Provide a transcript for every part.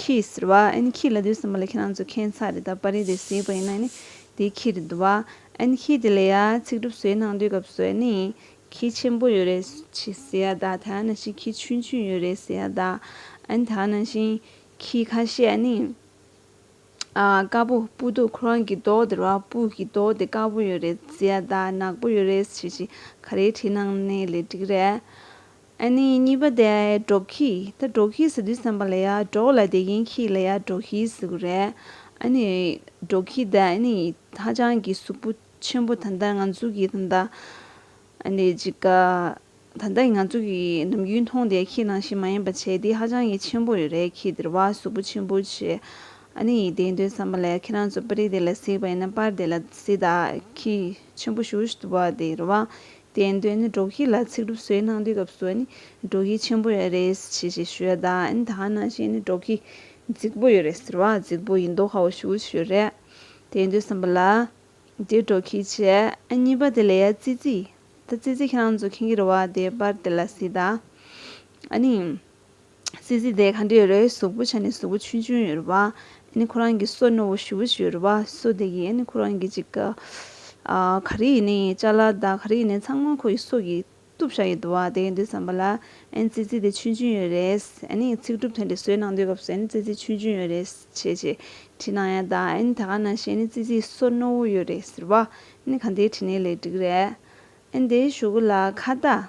ཁྱིས་ཟེར་བ། ཨན་ཁྱི་ལ་དུས་གསུམ་པ་ལ་ཁྱེད་རང་ཚོ་ཁྱད་མཚར་རེད་ད་པར་རིས་དེ་ཟེར་བ་ཡིན་ན་ནི་དེ་ཁྱི་རེད་བ། ཨན་ཁྱི་དེ་ལས་ཡ་ཚིག་གྲུབ་བཟོས་གནང་དུས་སྐབས་སུ་ཨ་ནི་ཁྱི་ཆེན་པོ་ཡོད་རེད་ཟེར་ཡ་ད་ད་ནང་བཞིན་ཁྱི་ཆུན་ཆུན་ཡོད་རེད་ཟེར་ཡ་ད་ཨན་ད་ནང་བཞིན་ཁྱི་ཁ་ཤས་ཨ་ནི་དཀར་པོ་སྤུ་སྡུག་ཁོ་རང་གི་མདོག་དེར་བ་སྤུ་གི་མདོག་དེ་དཀར་པོ་ཡོད་རེད་ཟེར་ཡ་ད་ནག་པོ་ཡོད་རེད་ཞེས་ཤིག་ག་རེའི་བྲིས་གནང་ནས་ལས་འགྲིག་རེད། ཨ་ནི་གཉིས་པ་དེ་འབྲོག་ཁྱི་ད་འབྲོག་ཁྱི་ཟེར་དུས་བསམ་པ་ལ་ཡ་འབྲོག་ལ་དེ་ཡིན་ཁྱི་ལ་ཡ་འབྲོག་ཁྱི་ཟེར་གི་རེད། ཨ་ནི་འབྲོག་ཁྱི་ད་ཨ་ནི་ཧ་ཅང་གི་གཟུགས་པོ་ཆེན་པོ་ད་ད་ང་ཚོ་གི་ད་ད་ཨ་ནི་ཅིག་ག་ད་ད་ང་ཚོ་གི་ནམ་རྒྱུན་མཐོང་དེ་ཁྱི་ནང་བཞིན་མ་ཡིན་པ་བྱས་དེ་ཧ་ཅང་གི་ཆེན་པོ་ཡོད་རེད་ཁྱི་དེར་བ་གཟུགས་པོ་ཆེན་པོ་བྱས་ཨ་ནི་ཡིན་དེ་འདོད་བསམ་པ་ལ་ཡ་ཁྱེད་རང་ཚོ་པར་རིས་དེ་ལ་གཟིགས་པ་ཡིན་ན་པར་དེ་ལ་གཟིགས་ད་ཁྱི་ཆེན་པོ་ཞུ་ཞུ་བ་དེ་རེད་བ་དེའི་དོན་ནི་དྲོ་སྐྱིད་ལ་ཚིག་སྒྲུབ་སྲོལ་གནང་དུས་སྐབས་སུ་ནི་དྲོ་སྐྱིད་ཆེན་པོ་ཡོད་རེད་ཅེས་ཞེས་ཤོད་ད་ཨེ་ཐང་ན་གཞན་ནི་དྲོ་སྐྱིད་རྫིག་པོ་ཡོད་རེད་ཟེར་བ་རྫིག་པོ་ཡིན་མདོག་ཧའོ་ཞུ་ཞུ་རེད་དེ་འདོད་བསམ་པ་ལ། དེ་དྲོ་སྐྱིད་ཅེས་ཨེ་གཉིས་པ་དེ་ལས་ཡ་ཙི་ཙི། ད་ཙི་ཙི་ཁྱེད་རང་ཚོ་མཁྱེན་གྱི་རེད་བ་དེ་པར་དེ་ལ་སྲིད་ད། ཨ་ནི། སྲིད་རྩེ་ལྡན་གང་དྲིས་རོའི་གཟུགས་པོ་བྱས་ནས་གཟུགས་པོ་ཆུང་ཆུང་ཡོད་རུ་བ་ནི་ཁོ་རང་གི་སོ་རྣོ་བོ་ཞུ་བོ་ཞིག་ཡོད་རུ་བ་སོ་དེ་གིས་ནི་ཁོ་རང་གི་ཅིག་ག་ག་རི་ཡིན་ནི་ལྕགས་ལ་དང་ག་རི་ཡིན་ནི་ཚང་མ་ཁོ་ཡི་སོ་གིས་གཏུབ་བཞག་ཡོད་དུ་བ་དེ་ཡིན་དུས་བསམ་པ་ལ་སྲིད་རྩེ་དེ་ཆུང་ཆུང་ཡོད་རེད་ནི་ཚིག་གྲུབ་དེ་འདྲ་བཟོས་གནང་དུས་སྐབས་སུ་ནི་སྲིད་རྩེ་ཆུང་ཆུང་ཡོད་རེད་བྱས་བྱས་བྲིས་གནང་ཡ་ད་ནི་ད་ག་ན་བྱས་ནི་སྲིད་རྩེ་སོ་རྣོ་བོ་ཡོད་རེད་ཟེར་བ་ནི་གང་དེའི་བྲིས་ནི་ལས་འགྲིག་རེད་ཨེ་འདི་ཞུ་གུ་ལ་ཁ་བརྡ།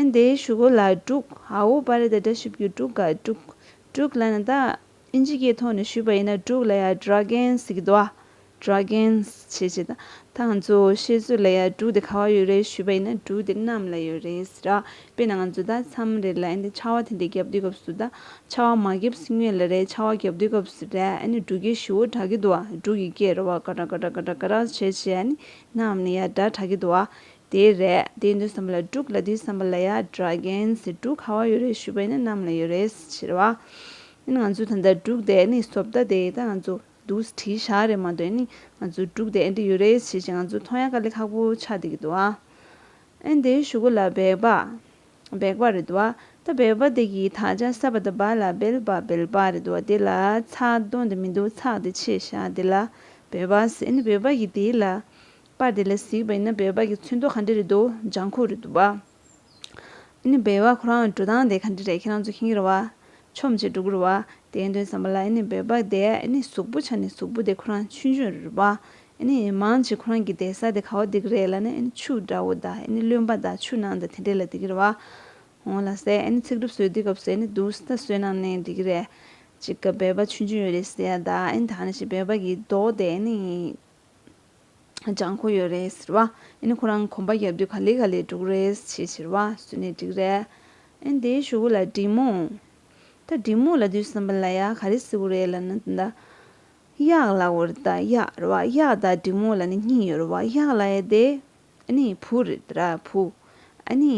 ཨན་དེ་ཞུ་གོ་ལ་དཀྲུག་ཨའོ་པ་རེད་ད་དྲ་ཞིབ་རྒྱུ་དཀྲུག་ག་དཀྲུག་དཀྲུག་ལ་ན་ད་ཨིན་ཇི་སྐད་ཐོག་ནས་ཞུས་པ་ཡིན་ན་དཀྲུག་ལ་ཡ Dragons གི་དོ་ཨ Dragons བྱེད་བྱེད་ད་ད་ང་ཚོ་ཤེས་ཚོད་ལ་ཡ་དཀྲུག་དེ་ག་བ་ཡོད་རེད་ཞུས་པ་ཡིན་ན་དཀྲུག་དེ་གནམ་ལ་ཡོད་རེད་ར་དཔེ་ན་ང་ཚོ་ད་མཚམས་རེ་ལ་ཨན་དེ་ཆར་བ་དེ་འདྲས་བརྒྱབ་དུས་སྐབས་སུ་ད་ཆར་བ་མ་བརྒྱབ་སྲིད་ངེས་ལ་རེད་ཆར་བ་བརྒྱབ་དུས་སྐབས་སུ་རེད་ཨན་དཀྲུག་གི་ཞུ་བོ་དྲག་གི་དོ་ཨ་དཀྲུག་གི་སྐད་རོ་བ་ག་དྲག་ག་དྲག་ག་དྲག་ག་དྲག་བྱེད་བྱེད་ཨན་གནམ་ལ་ཡ་དྲག་དྲག་གི་དོ་ཨ་དེ་རེད་དེ་འདུན་བསམ་པ་ལ་དཀྲུག་ལ་དུས་བསམ་པ་ལ་ཡ་དྲ་རྒན་ཟེར་དཀྲུག་ཁ་བ་ཡོད་རེད་ཞུས་པ་ཡིན་ན་གནམ་ལ་ཡོད་རེད་ཟེར་བ་ཡིན་ང་ཚོས་ད་ལྟ་དཀྲུག་དེ་ནི་བཟོ་བལྟ་དེ་ད་ང་ཚོ་འདུག་ཟེར་བྲིས་ཤག་རེད་མ་གཏོགས་ནི་ང་ཚོས་དཀྲུག་དེ་ཨེ་འདྲི་ཡོད་རེད་ཟེར་བཞིན་ང་ཚོ་ཐོ་ཡ་ཀ་ལེ་ཁག་པོ་ཆགས་བསྡད་ཀྱི་འདུག་ཨ་ཨེ་འདི་ཞུ་གུ་ལ་སྦེལ་པ་སྦེག་པ་རེད་འདུག་ཨ་ད་སྦེལ་པ་དེ་གི་དག་ཆ་ས་པ་ད་བ་ལ་སྦེལ་པ་སྦེལ་པ་རེད་འདུག་ཨ་དེ་ལ་ཚགས་དོན་དེ་མི་འདུག་ཚགས་དེ་ཕྱེས་ཤག་དེ་ལ་སྦེལ་པ་ཟེར་ནི་སྦེལ་པ་གི་དེ་ལ་པ་དེ་ལས་གཟིགས་པ་ཡིན་ན་འབེལ་བ་གྱི་ཚུལ་མདོ་ག་འདྲས་རེད་འདུག་ལྗང་ཁུ་རེད་འདུག་བ། ཨཱ་ནི་འབེལ་བ་ཁོ་རང་འགྲོ་སྟངས་དེ་ག་འདྲས་རེད་ཁྱེད་རང་ཚོ་ཁེང་གི་རེད་བ། ཆོམ་ཆེ་འགྲོ་གི་རེད་བ། དེའི་དོན་བསམ་པ་ལ་ཨཱ་ནི་འབེལ་བ་དེ་ཨཱ་ནི་གཟུགས་པོ་ཆ་ནས་གཟུགས་པོ་དེ་ཁོ་རང་ཆུ་མཆོད་རེད་བ། ཨཱ་ནི་མང་གཅིག་ཁོ་རང་གི་བསྡད་ས་དེ་ག་བ་འདི་གི་རེད་ལ་ནི་ཨཱ་ནི་ཆུ་འདྲ་བོ་དང་ཨཱ་ནི་རློན་པ་དང་ཆུ་ནང་དང་དེ་འདྲས་ལ་འདི་གི་རེད་བ། འོང་ལ་ཟེར་ཨཱ་ནི་ཚིག་གྲུབ་སོས་དུས་སྐབས་སུ་ཨཱ་ནི་འདུག་ས་སོས་ནང་ནས་འདི་གི་རེད། ཅིག་ག་འབེལ་བ་ཆུ་མཆོད་ཡོད་རེད་ཟེར་ཡ་དང་ཨཱ་ནི་ད་ནི་ཞེས་འབེལ་བ་གྱི་མདོ་དེ་ཨཱ་ནི། སྦྱང་དགོས་ཡོད་རེད་ཟེར་བ་ཨིན་ཁོ་རང་གོམ་པ་རྒྱབ་དུས་ག་ལེ་ག་ལེ་འབྲུག་རེད་ཅེས་ཟེར་བ་སུ་ནས་འགྲིག་རེད་ཨིན་དེ་ཞུ་གུ་ལ་འབྲི་མོ། ད་འབྲི་མོ་ལ་དུས་སམ་པ་ལ་ཡ་ག་རེ་ཟེར་གུ་རེད་ལབ་ན་ད་གཡག་ལ་གུ་རེད་ད་གཡག་རེད་བ་གཡག་ད་འབྲི་མོ་ལ་ནི་སྙིང་ཡོད་རེད་བ་གཡག་ལ་ཡ་དེ་ཨ་ནི་བུ་རེད་ར་བུ་ཨ་ནི་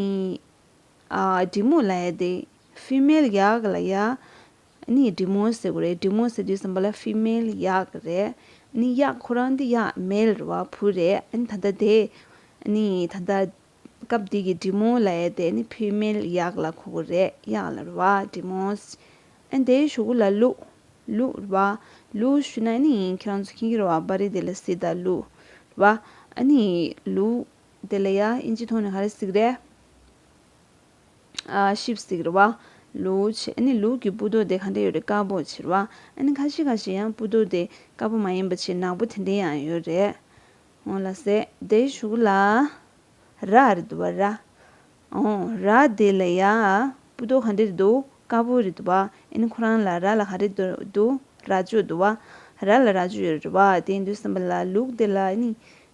འབྲི་མོ་ལ་ཡ་དེ Female གཡག་ལ་ཡ་ནི་འབྲི་མོ་ཟེར་གོ་རེད་འབྲི་མོ་ཟེར་དུས་སམ་པ་ལ Female གཡག་རེད་ནི་གཡག་ཁོ་རང་འདི་གཡག Male རེད་བ་བུ་རེད་ནི་ད་ལྟ་དེ་ནི་ད་ལྟ་སྐབས་དེ་གི་འབྲི་མོ་ལ་ཡ་དེ་ནི Female གཡག་ལ་གོ་གོ་རེད་གཡག་ལ་རེད་བ་འབྲི་མོ་ཨན་དེ་ཞུ་གོ་ལ་ལུ་ལུ་རེད་བ་ལུ་ཞུ་ན་ནི་ཁྱེད་རང་ཚོ་མཁྱེན་གྱི་རེད་བ་པ་རི་དེ་ལ་སི་ད་ལུ་རེད་བ་ཨ་ནི་ལུ་དེ་ལ་ཡ་ཨིན་ཇི་ཐོག་ནས་ག་རེ་ཟིག་རེད། ཤིབ་ཟིག་རེད་བ། ལུག་ཕྱི་ཨ་ནི་ལུག་གི་སྤུ་རྡོག་དེ་ག་འདྲ་ཡོད་རེད་དཀར་པོ་ཕྱིར་བ། ཨ་ནི་ཁ་ཤི་ཁ་ཤི་ཡང་སྤུ་རྡོག་དེ་དཀར་པོ་མ་ཡིན་པ་ཕྱིར་ནག་པོ་དེ་འདྲ་ཡང་ཡོད་རེད། ཨོ་ལ་སེ་བདེ་ཞུགས་ལ། ར་རེད་འདུག་བ་ར། ཨོ་ར་དེ་ལ་ཡ། སྤུ་རྡོག་ག་འདྲ་རེད་འདུག་དཀར་པོ་རེད་འདུག་བ། ཨ་ནི་ཁོ་རང་ལ་ར་ལ་ག་རེ་འདུག་ར་ཅོ་འདུག་བ། ར་ལ་ར་ཅོ་ཡོད་རེད་བ་དེ་འདུག་བསམ་པ་ལ་ལུག་དེ་ལ་ཨ་ནི་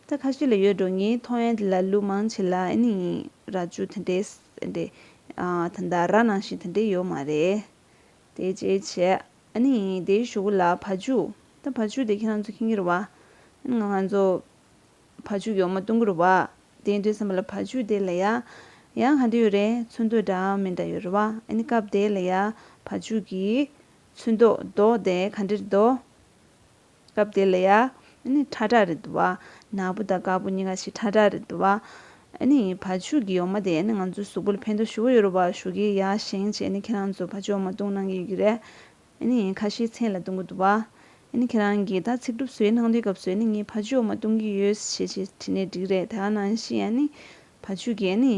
ད་ཁ་ཤས་ལ་ཡོད་འགྲོ་ངའི་མཐོང་ཡ་འདི་ལ་ལུག་མང་ཆེ་ལ་ཨེ་ནི་ར་ཅུ་དེ་འདྲས་ཨེ་འདྲས་ད་ལྟ་ར་ནང་བཞིན་དེ་འདྲས་ཡོད་མ་རེད་དེ་ཅེ་ཆེ་ཨེ་ནི་དེ་ཞུ་གུ་ལ་ཕ་ཅུ་ད་ཕ་ཅུ་དེ་ཁྱེད་རང་ཚོ་ཁྱེད་གྱི་རུ་བ་ཨེ་ནི་ང་ང་ཚོ་ཕ་ཅུ་གྱོ་མ་སྟོན་གྱི་རུ་བ་དེ་འདྲས་སམ་ལ་ཕ་ཅུ་དེ་ལ་ཡ་ཡ་ག་འདྲས་ཡོད་རེད་ཚོན་མདོག་འདྲ་མི་འདྲ་ཡོད་རུ་བ་ཨེ་ནི་སྐབས་དེ་ལ་ཡ་ཕ་ཅུ་གྱི་ཚོན་མདོག་མདོག་དེ་ག་འདྲས་རེད་དོ། སྐབས་དེ་ལ་ཡ། ནི་ཁྲ་ཁྲ་རེད་འདུག་བ། ནག་པོ་དང་དཀར་པོ་གཉིས་ཀ་ཞིག་ཁྲ་ཁྲ་རེད་འདུག་བ། ནི། ཕ་ཕྱུགས་ཀྱི་ཡོག་མ་དེ་ནི་ང་ཚོའི་གཟུགས་པོ་ལ་ཕན་ཐོགས་ཞུ་གི་ཡོད་རེད་བ་ཞུ་གི་ཡ་ཞེང་བྱས་ནི་ཁྱེད་རང་ཚོ་ཕ་ཕྱུགས་འོག་མ་བཏུང་གནང་གི་ཡོད་ཀྱི་རེད། ནི། ཁ་ཤས་མཚན་ལ་བཏུང་གི་འདུག་བ། ནི་ཁྱེད་རང་གིས་ད་ཚིག་གྲུབ་སོའི་ནང་དོན་སྐབས་སུ་ནི་ངས་ཕ་ཕྱུགས་འོག་མ་བཏུང་གི་ཡོད་ཞེས་བྲིས་ནས་འགྲིག་རེད་ད་ནང་བཞིན་ཡ། ནི། ཕ་ཕྱུགས་ཀྱི་ཡ། ནི།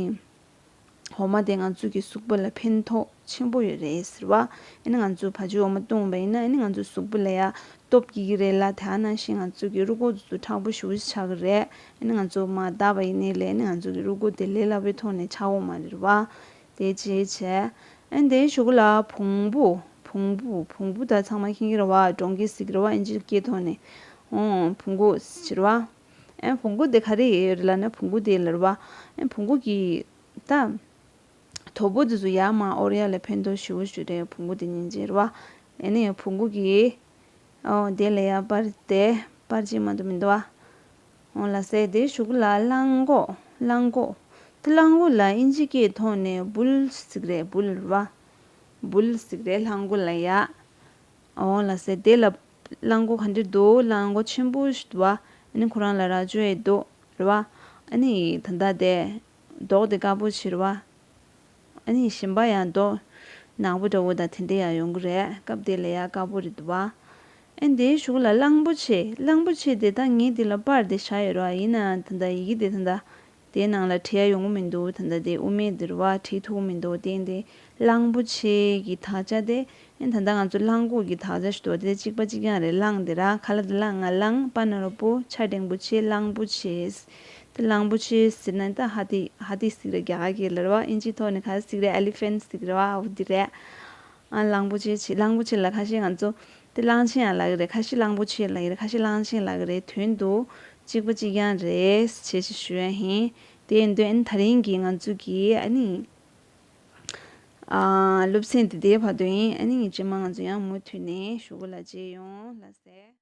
འོ་མ་དེ་ང་ཚོ་གི་གཟུགས་པོ་ལ་ཕན་ཐོག་ཆེན་པོ་ཡོད་རེད་ཟེར་བ། ཨ་ནི་ང་ཚོ་བ་ཅོའི་འོ་མ་བཏུང་བ་ཡིན་ན་ཨ་ནི་ང་ཚོའི་གཟུགས་པོ་ལ་ཡ་སྟོབས་སྐྱེ་གི་རེད་ལ་དེ་ཨ་ན་ཞིག་ང་ཚོ་གི་རུ་ཁོག་ཙུ་ཙུ་དྲག་པོ་ཞུ་བཞི་ཆགས་གི་རེད་ཨ་ནི་ང་ཚོ་མ་བལྟ་བ་ཡིན་ནི་ལས་ཨ་ནི་ང་ཚོ་གི་རུ་ཁོག་དེ་ལས་སླ་པོའི་ཐོག་ནས་ཆགས་འོང་མ་རེད་བ། དེ་ཅི་བྱེད། ཨ་ནི་དེའི་ཞོ་གུ་ལ་བོང་བུ། བོང་བུ། བོང་བུ་ད་ཚང་མ་ཁེངས་གི་རེད་བ་སྒྲོང་གིས་གཟིགས་གི་རེད་བ་ཨིན་ཇིར་སྐྱེས་ཐོག་ནས། ཨོང། བུ་འགོ། ཟེར་བ། ཨེ། བོང་གུ་དེ་ག་རེ་ཡི་རེད་ལ་ནི་བོང་གུ་དེའི་ལར་བ། ཨེ། བོང་གུ་གི། ད། དོ་པོ་དེ་ཚོ་ཡར་མར་ཨོར་ཡ་ལ་ཕན་ཐོགས་ཞི་བོ་ཞུ་རེད་བོང་གུ་དེ་ཉིན་བྱེད་རེད་བ། ཨེ་ནས་བོང་གུ་གི། ཨོ། དེ་ལས་ཡར་པར་དེ། པར་ཅིག་མ་འདུག་མི་འདུག་བ། ཨོ། ལ་སེ་དེ་ཞུགས་ལ་གླང་གོ། གླང་གོ། དེ་གླང་གོ་ལ་ཨིན་ཇི་སྐད་ཐོག་ནས་འབུལ། ཟིག་རེད་འབུལ་རེད་བ། འབུལ། ཟིག་རེད་གླང་གོ་ལ་ཡ། ཨོ། ལ་སེ་དེ་ལ། གླང་གོ་ག་འདི་རྡོ་གླང་གོ་ཆེན་པོ་ཞིག་རེད་བ་ཨ་ཁོ་རང་ལ་ར་ཅོ་ཡེ་རྡོ་རེད་བ་ཨ་ད་ལྟ་དེ་རྡོག་དེ་དཀར་པོ་ཞིག་རེད་བ་ཨ་ཞིམ་པ་ཡང་རྡོག་ནག་པོ་འདྲ་བོ་དང་དེ་འདྲ་ཡང་ཡོང་གི་རེད་སྐབས་དེ་ལས་ཡ་དཀར་པོ་རེད་བ་ཨ་དེའི་གཞུག་ལ་གླང་པོ་ཆེ་གླང་པོ་ཆེ་དེ་ད་ངས་དེ་ལ་པར་དེ་བཞག་ཡོད་རེད་བ་ཡིན་ནའང་ད་ཡི་གེ་དེ་ད་དེའི་ནང་ལ་བྲིས་ཡ་ཡོང་གི་མི་འདུག་ད་ལྟ་དེ་དབུ་མའི་འདིར་བ་བྲིས་ཐུག་གི་མི་འདུག་དེ་འདི་གླང་པོ་ཆེ་གི་དག་ཆ་སྟེ། ད་ལྟ་ང་ཚོ་གླང་གོག་གི་དག་ཆ་ཞུ་དོགས་དེ་གཅིག་པ་གཅིག་རྐྱང་རེད་གླང་དེ་ར་ཁ་ལ་དེ་ལ་ང་གླང་པ་ནོར་བུ་ཆ་སྒྲེང་པོ་ཆེ་གླང་པོ་ཆེ། དེ་གླང་པོ་ཆེ་ཟེར་ན་ད་ཧ་ཏི་ཧ་ཏི་སིག་ར་རྒྱ་གར་གྱི་ལར་བ་ཨིན་ཇི་ཐོག་ནས་ཁ་སིག་ར Elephant སིག་ར་བ་འོ་དེ་རེད། གླང་པོ་ཆེ་ཆེ་གླང་པོ་ཆེ་ལ་ཁ་ཤས་ང་ཚོ་དེ་གླང་ཆེན་ཡང་ལག་གི་རེད་ཁ་ཤས་གླང་པོ་ཆེ་ལག་གི་རེད་ཁ་ཤས་གླང་ཆེན་ལག་གི་རེད་དོན་དུ་གཅིག་པ་གཅིག་རྐྱང་རེད་ཅེས་ཞེས་ཞུ་ཡ་ཧེ། དེ་ཡིན་དོན་ད་རིང་གི་ང་ཚོ་གི་ཨ་ནི་སློབ་ཚན་དེ་དེའི་བར་དོ་ཡིན་ཨ་ནི་ངེད་སྤྱི་དམངས་ང་ཚོ་ཡང་མུ་མཐུད་ནས་ཞུ་གུ་ལ་བརྗེ་ཡོང་ལ་ཟེར།